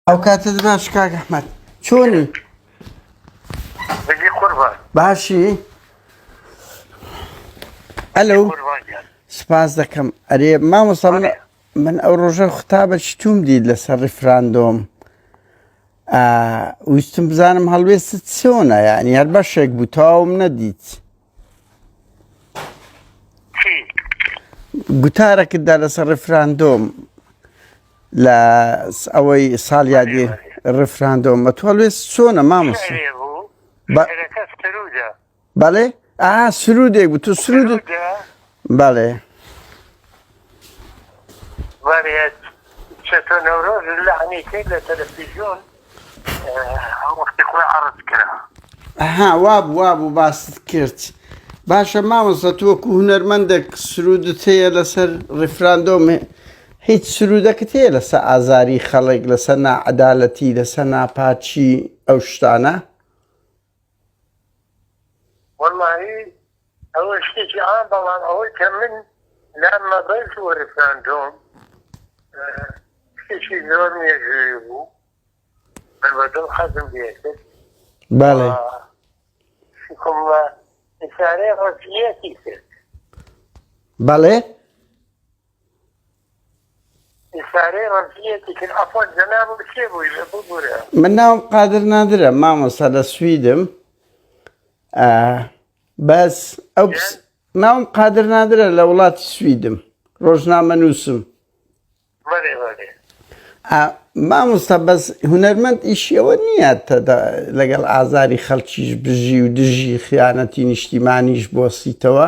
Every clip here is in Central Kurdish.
ئەو کاتە باش کاک ئەحمەد چۆنی بەجێ قوربان باشی ئەلو قوربان گیان سپاس دەکەم ئەرێ مامۆستا من بەڵێ. من ئەو ڕۆژە خطابە چتوم دیت لەسەر ڕیفراندۆم آه، ویستم بزانم هەڵوێستت چۆنە یعنی هەر بەشێک بوو تەواوم نەدیت گوتارەکتدا لەسەر ڕفراندۆم لە ئەوەی ساڵ یادی ڕفراندۆم بە تۆڵێ چۆنە مامۆس بەڵێ ئا سرودێک بوو تو سرود بەڵێ وەرێت چەتۆ نەورۆز لەعنی کرد لە تەلەفیزیۆن وەختی خۆی عەڕز کرا ها واب واب و باست کرد باشە مامۆستا تۆ وەکو هونەرمەندێک سرودت هەیە لەسەر ڕیفراندۆم هیچ سرودەکەت هەیە لەسەر ئازاری خەڵک لەسەر ناعەدالەتی لەسەر ناپاچی ئەو شتانە وەڵاهی ئەوە شتێکی عام بەڵام ئەوەی کە من لام مەبەست و ریفراندۆم شتێکی زۆر مێژووی بوو من بە دڵ حەزم لێکرد بەڵێ شکم لە ئیسارەی ڕەزیەتی کرد بەڵێ من ناوم قادر نادرە مامۆستا لە سویدم بەس ئەو ناوم قادر نادرە لە وڵاتی سویدم ڕۆژنامە نووسم مامۆستا بەس هوەرمەند ئیشیەوە نییە لەگەڵ ئازاری خەڵکیش بژی و دژی خیانەتی نیشتیمانیش بۆسیتەوە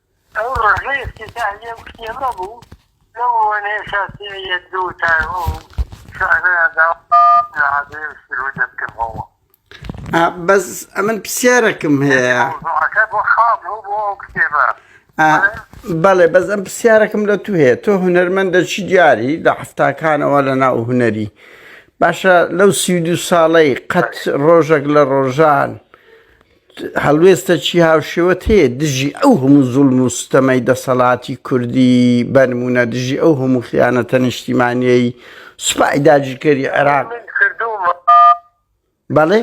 ئەو ڕۆژەی ئیفتیتاحیە وتی ئەمە بوو لەو وەنەیە شاسیعیە دوو تا ئەو شعرەیان دا لە عادەیە و سرودە بکردەوە. ئا بەس ئەمن پسیارەکم هەیە. موضوعەکە بۆ خاڵ بوو بۆ ئەو کتێبە. ئا بەڵێ بەس ئەم پسیارەکم لە تو هەیە تۆ هونەرمەندە چی دیاری لە حەفتاکانەوە لە ناو هونەری باشە لەو سی و دوو ساڵەی قەت ڕۆژێک لە ڕۆژان هەڵوێستە چی هاوشێوەت هەیە دژی ئەو هەموو زوڵم و ستەمەی دەسەڵاتی کوردی بەنمونە دژی ئەو هەموو خیانەتە نیشتیمانیەی سوپای داگیرکەری عێراق بەڵێ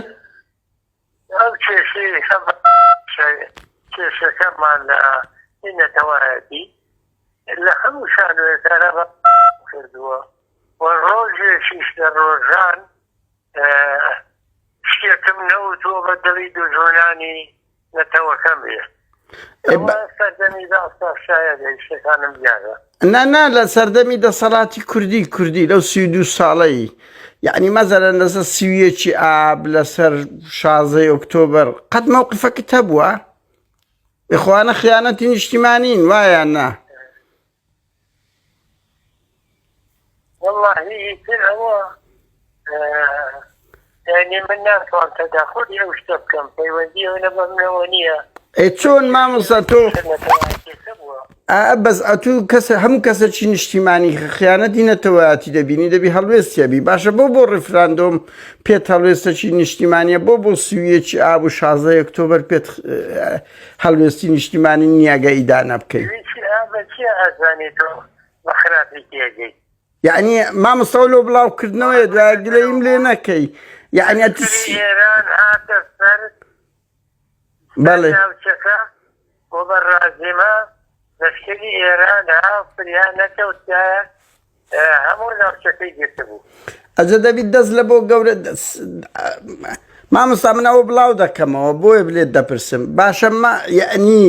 کێشەکەمان لە نەتەوایەتی لە هەموو شانوێکارە کردووە و ڕۆژێکیش لە ڕۆژان شتێکم نەوتوە بە دڵی دوژمنانی نەتەوەکەم بێ نانا لە سەردەمی دەسەڵاتی کوردی کوردی لەو سی دو ساڵەی یعنی مەزەرەن لەسەر سیویەکی ئاب لەسەر شازەی ئۆکتۆبەر قەت مەوقفەکە هەبووە بخواانە خیانەتی نیشتیمانین وایە نا وەڵڵا هی ئیتر ئەوە یانی من ناتوان تەداخولی ئەو شتە بکەم پەیوەندی ئەو نە بەمنەوە نییە ئەی چۆن مامۆستا تۆ نەتەوایەتێکە بووە ئا بەس ئەتوو کەسە هەموو کەسەکی نیشتیمانی خیانەتی نەتەوەیاتی دەبینی دەبی هەڵوێستیەبی باشە بۆ بۆ ڕیفراندۆم پێت هەڵوێستەکی نیشتیمانیە بۆ بۆ سویەکی ئاب و شازدە ئۆکتۆبەر پێت هەڵوێستی نیشتیمانی نیاگە ئیدانە بکەین یعنی مامەسەوە لۆ بڵاوکردنەوەی دوای گلەیم لێ نەکەی یعنی ئێران هاتە سەر بەڵێ بۆ بەڕازیمە لەشکری ئێرانە فریا نەکەوتایە هەموو ناوچەکەی گرتبوو. ئەجە دەبی دەست لە بۆ گەورە مامۆستا من ئەوە بڵاو دەکەمەوە بۆیە بلێت دەپرسم باشە مە یعنی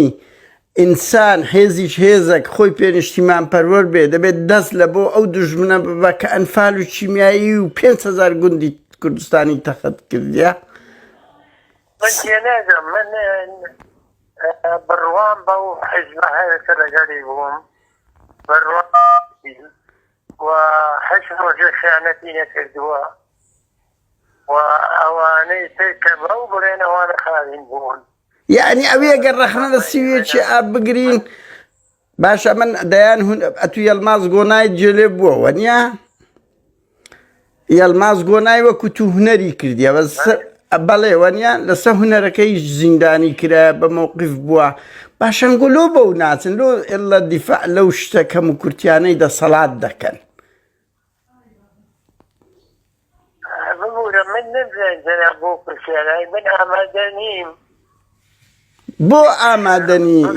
ئینسان حێزیش هێزەک خۆی پێنیشتیمان پەروەەر بێ دەبێت دەست لە بۆ ئەو دژمنە ببە کە ئەنفال و چیمیایی و 5هزار گوندی کوردستانی تەخت کردە بڕوام بەو حزب هەیەکە لەگەری بووم یانی ئەوێ گەر ڕەخنە لە سیوێکی ئا بگرین باشە من دەیان هون ئەتو یەلماز گۆنای جێلێ بووەوە نیە؟ یەڵماز گۆنای وەکو تو هونەری کردیە بەس بەڵێ وەنیان لەسە هونەرەکەی زیندانی کرا بە مووقف بووە باشەنگۆ لۆ بەو ناچن لۆ ئلە دیفاع لەو شتە کەم و کورتیانەی دەسەڵات دەکەن ببوورە من نەزان جەنا بۆ پرسیارای من ئامادە نیم بۆ ئامادە نیم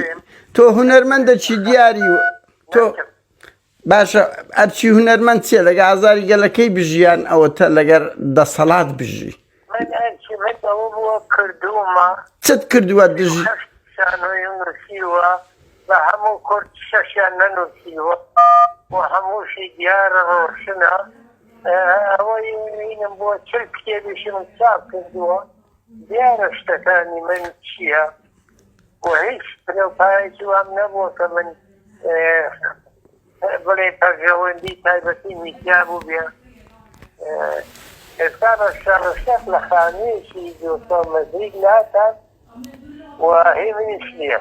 تۆ هونەرمەندە چی دیاری و تۆ باشە ئەرچی هونەرمەند چیە لەگە ئازاری گەلەکەی بژیان ئەوەتە لەگەر دەسەڵات بژی چت کردووە دژ بە هەموو کورد شەشیان نەنووسیوە هەمووشی دیارە ڕۆشنە ئەوەی بۆ چل کتێبیشم چاپ کردووە دیارە شتەکانی من چییە و هیچ بنەو پایەکی وام نەبووە کە من بڵێ پەرژەوەندی تایبەتی میدیا بوو بێ ئێستا بە شەڕشەق لە خانوویەکی دۆسەڵ مەزیک ناکات و هی منیش نییە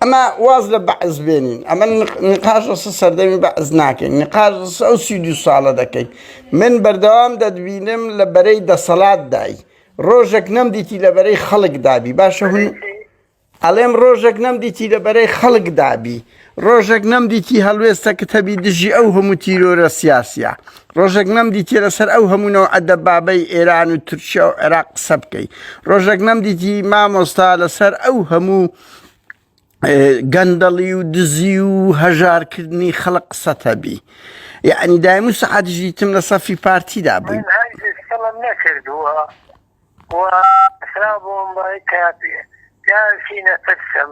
ئەمە واز لە بەعز بێنین ئەمە نقاش لەسە سەردەمی بەعز ناکەین نقاش لەسە ئەو سی دو ساڵە دەکەین من بەردەوام دەدبینم لە بەرەی دەسەڵات دای ڕۆژێک نەم دیتی لە بەرەی خەڵک دابی باشە هون ئەڵێم ڕۆژێک نەم دیتی لە بەرەی خەڵک دابی ڕۆژێک نەم دیتی هەڵوێستە کە تەبی دژی ئەو هەموو تیرۆرە سیاسە ڕۆژێک نەمدیتی لەسەر ئەو هەموو نەوعە دەبابەی ئێران و تورکیا و عێراق قسە بکەی ڕۆژێک نەمدیتی مامۆستا لەسەر ئەو هەموو گەندەڵی و دزی و هەژارکردنی خەڵق قسەتەبی یعنی دایم و سەعاتش دیتم لە سەفی پارتیدا بووی نەکردووە خرابووم بای کاپێ پیاوی نەترسم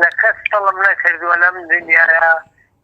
لە کەس تەڵم نەکردووە لەم دنیاە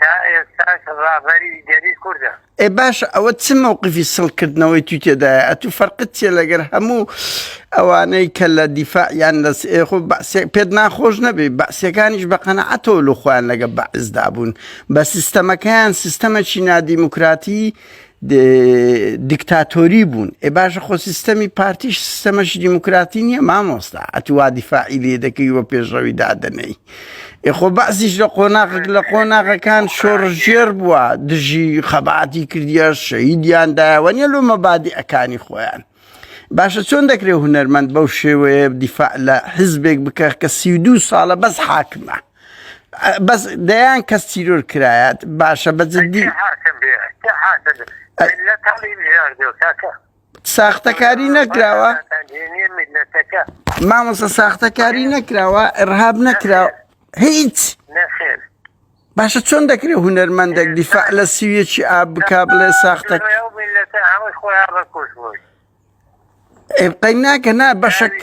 تا ئێستاش ڕابەری گەلی کوردە. ئێ باشە ئەوە چ مەوقفی سڵ کردنەوەی توی تێدایە ئەتو فەرقت چیە لەگەر هەموو ئەوانەی کە لە دیفاع یان لە سئ خۆ بەعسێک پێت ناخۆش نەبێ بەعسیەکانیش بە قەنەعەتەوە لۆ خۆیان لەگە بەعس دابوون بە سیستەمەکەیان سیستەمەکی نادیموکراتی دیکتاتۆری بوون ئێ باشە خۆ سیستەمی پارتیش سیستەمەش دیموکراتی نییە مامۆستا ئەتووا دیفاعی لێ دەکەی وە پێشڕەوی دادەنەی ئێخۆ بەعزیش لە قۆناغک لە قۆناغەکان شۆڕژێر بووە دژی خەباتی کردە شەیدیاندایەوە نیە لۆ مەبادی ئەکانی خۆیان باشە چۆن دەکرێت هوەرمەند بەو شێوەیە دیفاع لە حزبێک بکە کە سی دو ساڵە بەس حاکمە بەس دەیان کەس تیرۆر کرایات باشە بە جدی ساختەکاری نەکراوە مامۆسە ساختەکاری نەکراوە ئەرهاب نەکراوە هیچ باشە چۆن دەکرێت هوەرمەندێک دیفاع لە سیویەکی ئاب بک بڵێ ساختە ئێبقای ناکە نا بەشک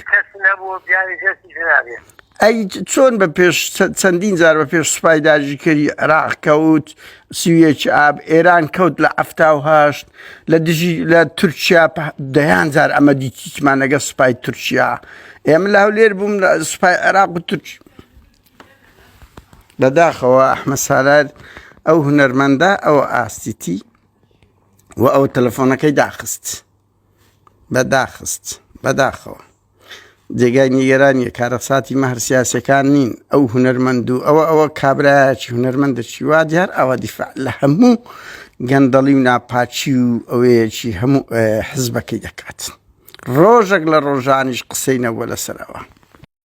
ئەی چۆن بە پێش چەندین جار بە پێش سوپای داژیکەری عراق کەوت سیویەک ئاب ئێران کەوت لە ئەفتاهشت لە دژی لە تورکیا دەیان جار ئەمە دیتیمان لەگە سوپای تورکیا ئێمە لە هەولێر بووم لە سوپای عێراق و تورک بەداخەوە ئەحمە سالار ئەو هونەرمەندە ئەو ئاستیتی و ئەو تەلەفۆنەکەی داخست بەداخست بەداخەوە جێگای نیگەرانیە کارەساتی مەهر سیاسەکان نین ئەو هوەرمەند و ئەوە ئەوە کابراایکی هوەرمەند دەچی وا دیار ئەوە دیفاع لە هەموو گەندەڵی و ناپاچی و ئەوەیەکی هەموو حزبەکەی دەکات ڕۆژێک لە ڕۆژانیش قسەینەوە لەسەرەوە